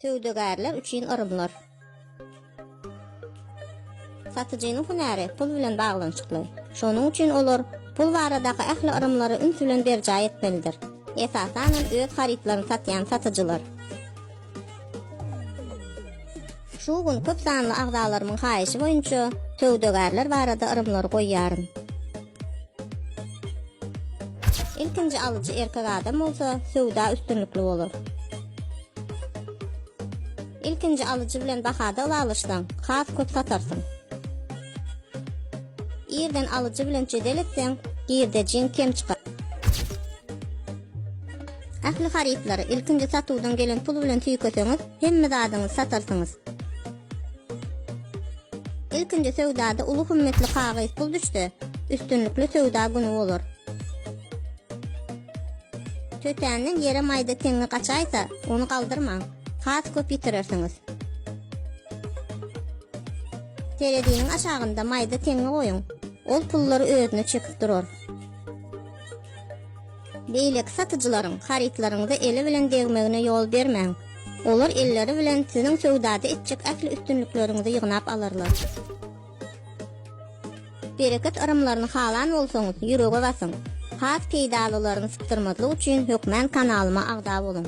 Söwdagärler üçin yrymlar. Satyjynyň hünäri pul bilen baglanyşykly. Şonuň üçin olar pul baradaky ähli yrymlary üns bilen berjaý etmelidir. Esasan hem öz harytlaryny satýan satyjylar. Şu gün köp sanly agzalarymyň haýyşy boýunça söwdagärler barada yrymlary goýýaryn. Ilkinji alyjy erkek adam bolsa, söwda üstünlikli bolar. Ilkinji alyjy bilen bahada ylalaşsaň, has köp satarsyň. Irden alyjy bilen jedel etseň, girdejiň kem çykar. Ähli harytlary ilkinji satuwdan gelen pul bilen tüýkeseňiz, hemme zadyňyzy satarsyňyz. Ilkinji söwdada uly hümmetli kagyz pul düşse, üstünlikli söwda güni bolar. Tötänden ýere maýda teňňi gaçaýsa, ony galdyrmaň. Has köp ýitirersiňiz. Tereziniň aşagynda maýda teňňi goýuň. Ol pullary özüne çekip durar. Beýleki satyjylaryň harytlaryňyza eli bilen degmegine ýol bermäň. Olar elleri bilen siziň söwdada etjek ähli üstünlikleriňizi ýygnap alarlar. Bereket yrymlaryny halan bolsaňyz, ýürege basyň. Has peýdalylaryny sypdyrmazlyk üçin hökmän kanalyma agza boluň.